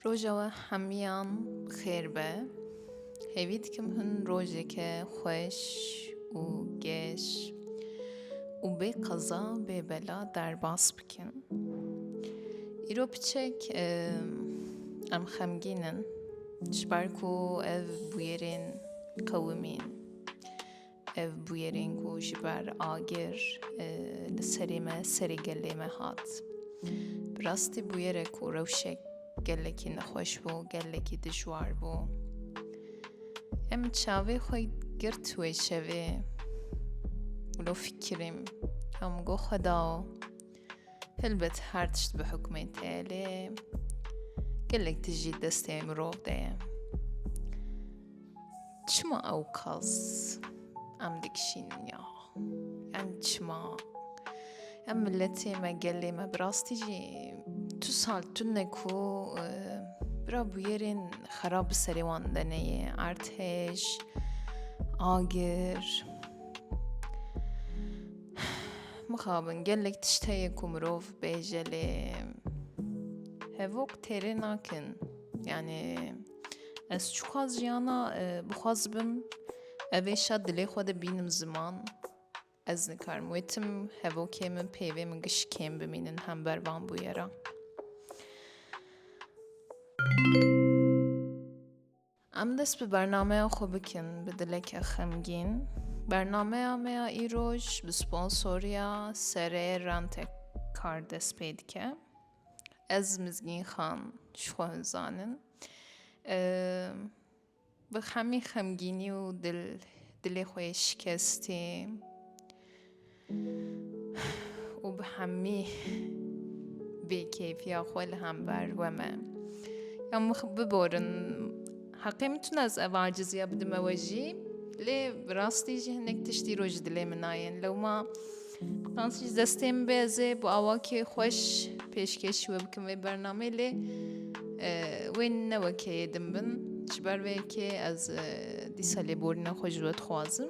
Roja we hemiyan xêr be. Hêvî dikim hin rojeke xweş û geş û bê qeza bê bela derbas bikin. Îro piçek em xemgîn in ji ber ku ev bûyerên qewimîn Ev bûyerên ku ji ber agir li serê me, serê gelê me hat. Bi rastî bûyerek ku rewşek gelekî nexweş bû, gelekî dijwar bû. Em çavê xwe girt wê şevê. Wilo fikirîm, em got xwe dao. Helbet her tişt bi hukmê tê lê gelek tişt jî destê mirov de ye. Çima ew kas em dikişînin ya? Em çima? Em milletê me gelê me bi rastî jî tu sal tune ku bira bûyerên xerab bi serê wan de neyê erdhêj, agir, Mixabin gelek tişt heye ku mirov bêje lê hevok têrê nakin. Yani ez çuxaz jiyana e, bixwaz bim evê şa dilê xwe de bînim ziman. Ez nikarim wê tim hevokê min peyvê min giş kêm bimînin hember van bûyera. Em dest bi bernameya xwe bikin bi dileke xemgîn. Bernameya me ya îroj bi sponsoriya Serê Rentek Kar dest pê dike. Ez Mizgîn Xan ji xwe hin zanin. Bi hemî xemgînî û dil dilê xwe yê şikestî. û bi hemî bêkeyfiya xwe li hember we me ya min biborin heqê min tune ez ev aciziya bidime we jî lê bi rastî jî hinek tiştî roj dilê min nayên lewma Tans ji destê min bê ez ê bi awakê xweş pêşkêş we bikim vê bernamê lê wê ne wekê yê din bin ji ber vê yekê ez dîsa lêborîna xwe ji we dixwazim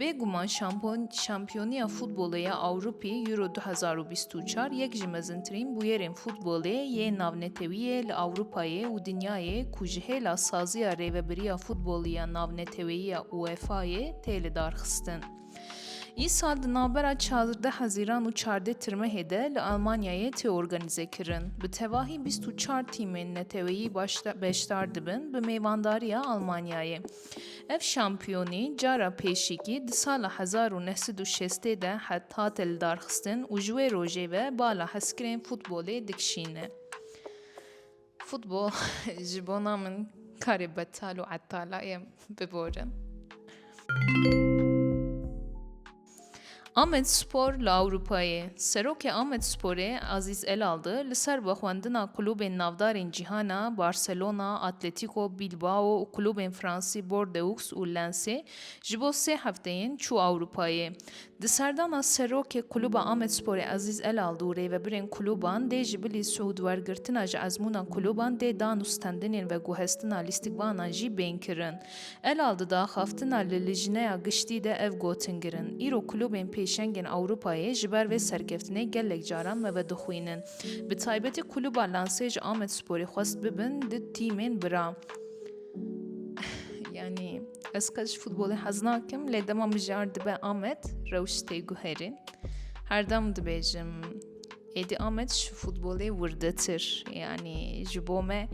Bêguman Şampiyoniya Futbolê ya Ewropî, Euro du hezar û bîst û çar yek ji mezintirîn bûyerên futbolê yê navnetewiyê li Ewropayê û dinyayê ku ji hêla saziya Rêvebiriya Futbolî ya Navneteweyiya UEFA'yê tê lidarxistin. Îsal di navbera çardeh hezîran û çardeh tirmehê de li Elmanyayê tê organîzekirin. Bi tevahî bîst û çar tîmên neteweyî beşdar dibin bi mêvandariya Elmanyayê. Ev şampiyonî cara pêşîkî di sala hezar û neh sed û şestê de hate lidarxistin û ji wê rojê ve bala hezkirên futbolê dikişîne. Futbol ji bona min karê betal û etala ye, biborin. Amedspor li Ewropayê, Serokê Amedsporê Azîz Elaldi li ser vexwendina kulûbên navdarên cîhana Barcelona, Atletîko Bîlbao û kulûbên fransî Bordeux û Lensê ji bo sê hefteyên çû Ewropayê. Di serdana Serokê Kulûba Amedsporê Azîz Elaldi û rêvebirên kulûban dê ji bilî siûd wergirtina ji ezmûna kulûban dê dan û stendinên veguhestina lîstikvanan jî bên kirin. Elal di daxaftina li Lijneya Giştî de ev gotin girin, Îro klubên pêşengên Ewropayê ji ber vê serkeftinê gelek caran me vedixwînin. Bi taybetî kluba Lensê ji Amedsporê xwest bibin du tîmên bira. Yanî ez qet ji futbolê hez nakim lê dema mijar dibe Amed rewş tê guherîn. Herdem dibêjim Êdî Amed ji futbolê wirdetir yanî ji bo me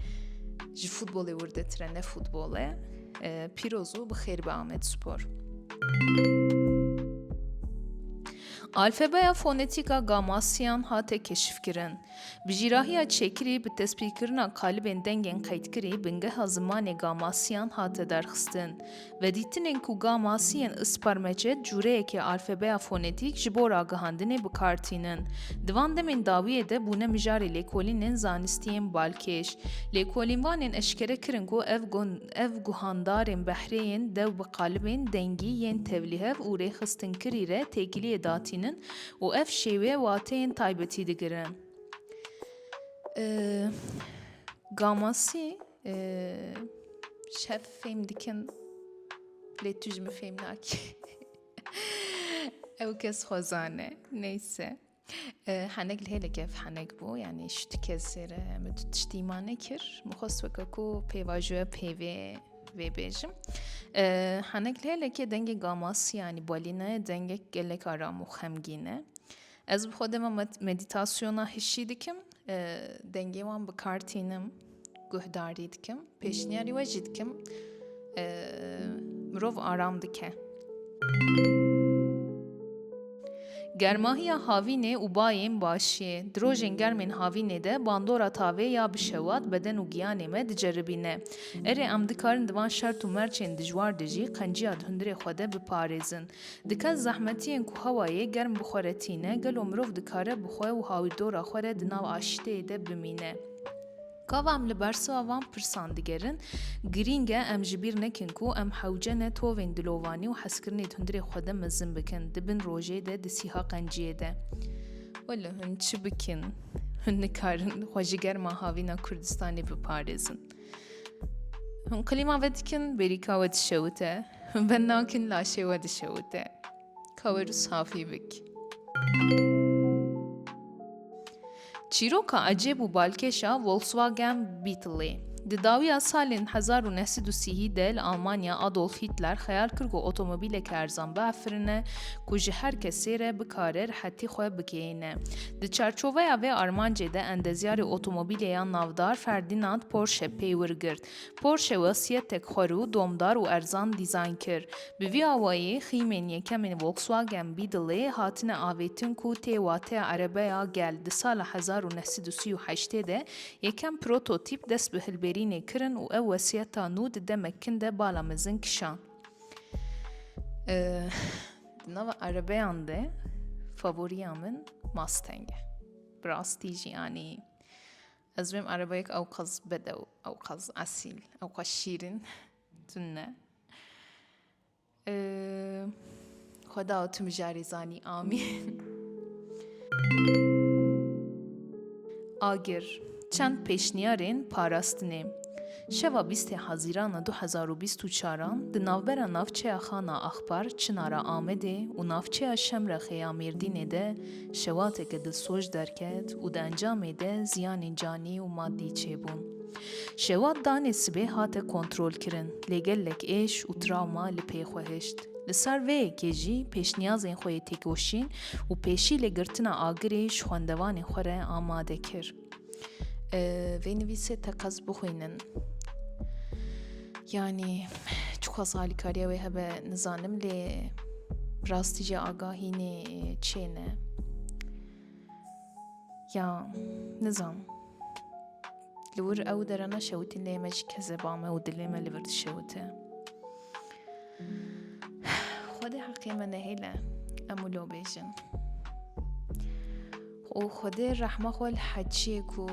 ji futbolê wirdetir e ne futbol e. Pîroz û bixêr be Amed Spor. Alfabeya fonetîka gamasiyan hate keşifkirin. Bi jîrahiya çêkirî bi tespîtkirina kalibên dengên qeydkirî bingeha zimanê gamasiyan hate derxistin. Vedîtinên ku gamasî yên isparmece di cûreyekê alfebeya fonetîk ji bo ragihandinê bi kar tînin. Di van demên dawiyê de bûne mijarê lêkolînên zanistî yên balkêş. Lêkolînvanên eşkere kirin ku ev ev guhandarên behrêyên dew bi qalibên dengî yên tevlîhev û rêxistinkirî re têkiliyê datînin û ev şêwê wateyên taybetî digirin. Gamasî. Şev fêm dikim lê tu ji min fêm nakî. Ew kes xwezan e. Neyse. Henek li hêlek ev henek bû yanî ji tu kesê re min tu tiştî ma nekir. Min xwest weke ku pêvajoya pêvê vêbêjim. Henek li hêlekê dengê gamasî yanî bolînayê dengek gelek aram û xemgîn e. Ez bi xwe dema medîtasyona hişî dikim, dengê wan bi kar tînim, guhdarî dikim, pêşniyarî we jî dikim. Mirov aram dike. Germahiya havînê û bayên başiyê. Di rojên germên havînê de bandora tavê ya bi şewat beden û giyanê me diceribîne. Erê em dikarin di van şert û merçên dijwar de jî qenciya di hundirê xwe de biparêzin. Dikez zehmetiyên ku hewayê germ bi xwe re tîne, gelo mirov dikare bi xwe û hawîrdora xwe re di nav aşîteyê de bimîne? Gava em li bersiva van pirsan digerin, girîng e em ji bîr nekin ku em hewce ne tovên dilovanî û hezkirinê di hundirê xwe de mezin bikin, di bin rojê de, di sîha qenciyê de. Welo hûn çi bikin? Hûn nikarin xwe ji germa havîna Kurdistanê biparêzin. Hûn qilîma ve dikin, bêrîka we dişewite. Hûn ben nakin, laşê we dişewite. Kawer û safî bik. Çîroka ecêb û balkêşa Volkswagen Beetleê. Di dawiya salên hezar û neh sed û sîhî de li Almanya Adolf Hitler xeyal kir ku otomobîleke erzan biafirine ku ji her kesê re bikare rihetî xwe bigihîne. Di çarçoveya vê armancê de endezyarê otomobîlê ya navdar Ferdinand Porsche pey wir girt. Porsche wesîyetek xwe rû domdar û erzan dîzayn kir. Bi vî awayî xîmên yekemên Volkswagen Beetleê hatine avêtin ku tê wateya erebeya gel di sala hezar û neh sed û sî û heştê de yekem prototîp dest bi hilberînê kirin û ew wesîyeta nû di demek kin de bala mezin kişand. Di nava erebeyan de favoriya min Mustang e. Bi rastî jî anî ez wêm erebeyek ewqas bedew, ewqas esîl, ewqas şîrin tun ne. Xweda tu mijarê zanî amîn. Agir, çend pêşniyarên parastinê. Şeva bîstê Hezîrana du hezar û bîst û çaran di navbera navçeya Xana Axpar, Çinara Amedê û navçeya Şemrexê ya Mêrdînê de şewateke dilsoj derket û di encamê de ziyanên canî û madî çêbûn. Şewat danê sibê hate kontrolkirin lê gelek êş û trawma li pê xwe hişt. Li sar vê yekê jî pêşniyazên xwe yê têkoşîn û pêşî li girtina agirê ji xwendevanê xwe re amade kir. Vê nivîsê teqez bixwînin. Yanî çiqas alîkariya wê hebe nizanim lê rastî jî agahînê çê ne. Ya nizam. Li wir ew dere neşewitî lê me ji kezeba me û dilê me li vir dişewite. Xwedê heqê me nehêle em û lo bêjin. û Xwedê rehma xwe li heçiyê ku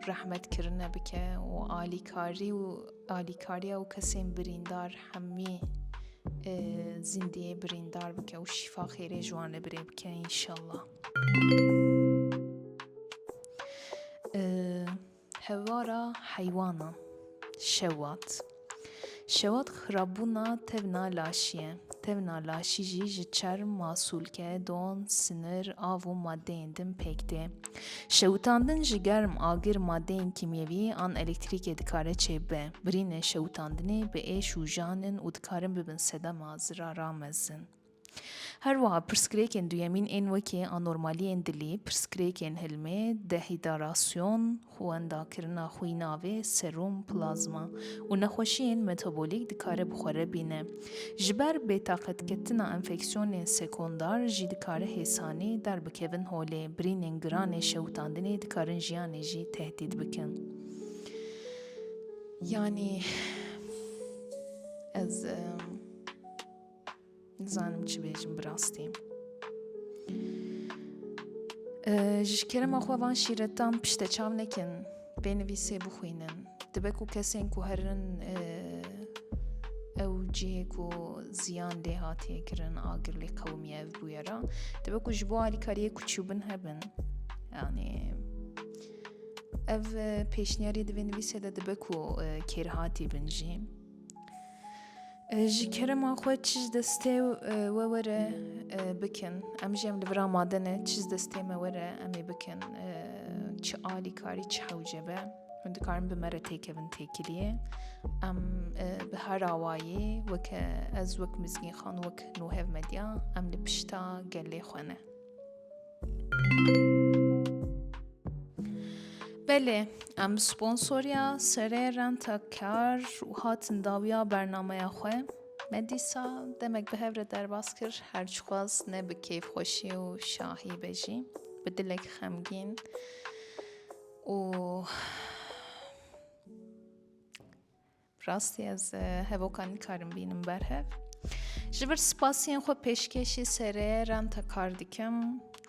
rehmet kirine bike û alîkarî û alîkariya û kesên birîndar hemî zîndiyê birîndar bike û şîfa xêrê ji wan li birê bike înşallah. Hewara heywana şewat Şewat xirabûna tevna laşî ye. Tevna laşî jî ji çerm, masûlke, don, sinir, av û madeyên din pêk tê. Şewitandin ji germ, agir, madeyên kîmyewî an elektrîkê dikare çêbibe. Birînên şewitandinê bi êş û jan in û dikarin bibin sedema zirara mezin. Her wiha pirsgirêkên duyemîn ên wekî anormaliyên dilî, pirsgirêkên hilmê, dehidarasyon, xwendakirina xwîna vê, serum, plazma, û nexweşiyên metabolîk dikare bi xwe re bîne. Ji ber bêtaqetketina enfeksiyonên sekondar jî dikare hêsanî derbikevin holê, birînên giran ê şewitandinê dikarin jiyanê jî tehdîd bikin. Yanî ez. Nizanim çi bêjim bi rastî. Ji kerema xwe van şîretan pişte çav nekin, bê nivîsê bixwînin. Dibe ku kesên ku herin ew cihê ku ziyan lê hatiye kirin agir lê qewimiye ev bûye ra dibe ku ji bo alîkariyê ku çûbin hebin yanî ev pêşniyarî divê nivîsê de dibe ku kêrhatî bin jî Ji kerema xwe çi ji destê we were bikin. Em jî em li vira made ne çi ji destê me were em ê bikin. Çi alîkarî çi hewce be. Hûn dikarin bi me re têkevin têkiliyê. Em bi her awayî weke ez wek Mizgînxan wek Nuhev Medya em li pişta gelê xwe ne. Belê em bi sponsoriya serê renta kar û hatin dawiya bernameya xwe me dîsa demek bi hev re derbas kir her çixwaz ne bi kêfxweşî û şahî be jî bi dilek xemgîn û Rastî ez hevoka nikarim bînim ber hev. Ji vir spasiyên xwe pêşkêşî sereyeran te kar dikim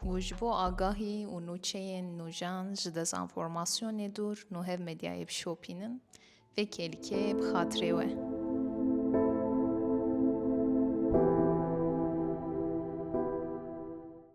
û ji bo agahî û nûçeyên nûjan ji dezenformasyonê dûr nû hev medyayê bişopînin. Vê kêlikê bi xatirê we.